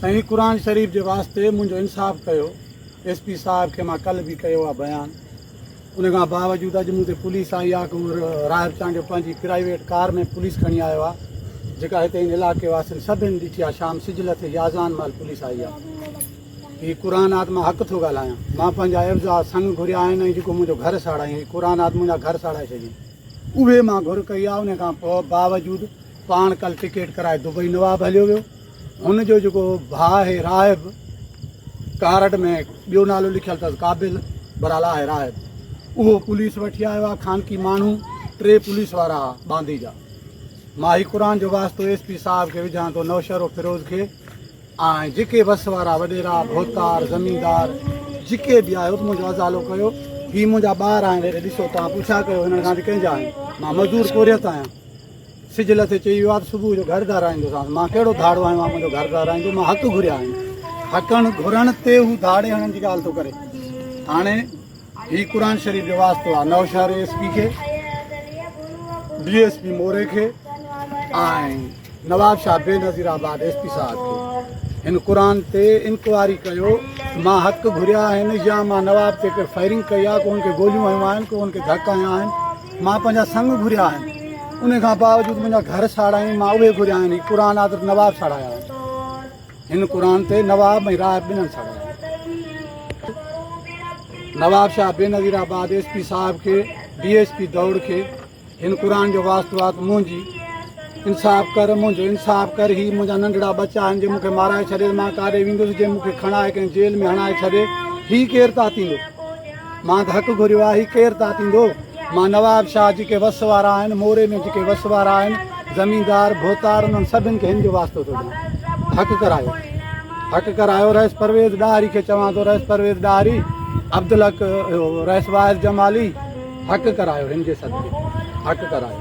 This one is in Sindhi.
سائين قرآن شريف جي واسطي منهنجو انصاف ڪيو ايس پي صاحب کي مان ڪلھ به ڪيو آ بيان ان کان باوجود اڄ مون تي پوليس آئي آ ڪنور راهب چانڊيو پنهنجي پرائيويٽ ڪار ۾ پوليس کڻي آيو آ جيڪا هتي ان علائقي واسين سڀين ڏٺي آ شام سج لٿي جي اذان مهل پوليس آئي آ هي قرآن آت مان حق ٿو ڳالهايان مان پنهنجا عيبزا سنگ گهريا آهن ۽ جيڪو منهنجو گهر ساڙائين هي قرآن آت منهنجا گهر ساڙائي ڇڏين اهي مان گهر ڪئي آ ان کان باوجود پاڻ ڪلھ ٽڪيٽ ڪرائي دبئي نواب هليو ويو هن جو جيڪو ڀاء آهي راهب، ڪارڊ ۾ ٻيو نالو لکيل اٿس قابل پر الا آهي راهب، اهو پوليس وٺي آيو آهي خانقي ماڻهو ٽي پوليس وارا آهي باندي جا، مان هي قرآن جو واسطو ايس پي صاحب کي وجهان ٿو نوشهرو فيروز کي ۽ جيڪي وس وارا وڏيرا ڀوتار زميندار جيڪي به آهيو منهنجو ازالو ڪيو هي منهنجا ٻار آهن هيڏي ڏسو توهان پڇا ڪيو هنن کان ته ڪنهن جا آهن مان مزدور پورهيت آهيان. سج لٿي چئي ويو آ ته صبح جو گهر ڌارائيندوسانس. مان ڪهڙو ڌاڙو آهيان جو منهنجو گهر ڌارائيندو. مان حق گهريا آهن. حقن گهرڻ تي هو ڌاڙي هڻڻ جي ڳالهه ٿو ڪري. هاڻي هي قرآن شريف جو واسطو آهي نوشهري ايس پي کي، ڊي ايس پي موري کي ۽ Nawab Shah Benazirabad S P صاحب کي. هن قرآن تي انڪوائري ڪيو مان حق گهريا آهن يا مان نواب تي ڪي فائرنگ ڪئي آهي ڪو هن کي گوليون هنيون آهن ڪو هن کي ڌڪ هنيا آهن. مان پنهنجا سڱ گهريا آهن انهي کان باوجود منهنجا گهر ساڙائين مان اهي گهريا آهن هي قرآن آدر نواب ساڙايا آهن هن قرآن تي نواب ۽ راهب ٻنهن ساڙايا Nawab Shah Benazirabad S P صاحب کي ڊي ايس پي دور کي هن قرآن جو واسطو آت منهنجي انصاف ڪر منهنجو انصاف ڪر هي منهنجا ننڍڙا ٻچا آهن جي مونکي مارائي ڇڏي مان ڪاڏي ويندس جي مونکي کڻائي ڪنهن جيل ۾ هڻائي ڇڏي هي ڪير تاتيندو مان ته حق گهريو آ، هي ڪير تان ٿيندو؟ مان نواب شاهه جيڪي وس وارا آهن، موري ۾ جيڪي وس وارا آهن، زميندار، ڀوتار، انهن سڀن کي هن جو واسطو ٿو ڏيان. حق ڪرايو. حق ڪرايو. رئيس پرويز ڏاهري کي چوان ٿو، رئيس پرويز ڏاهري، عبدالحق، رئيس واعظ جمالي، حق ڪرايو هن جي صدقي. حق ڪرايو.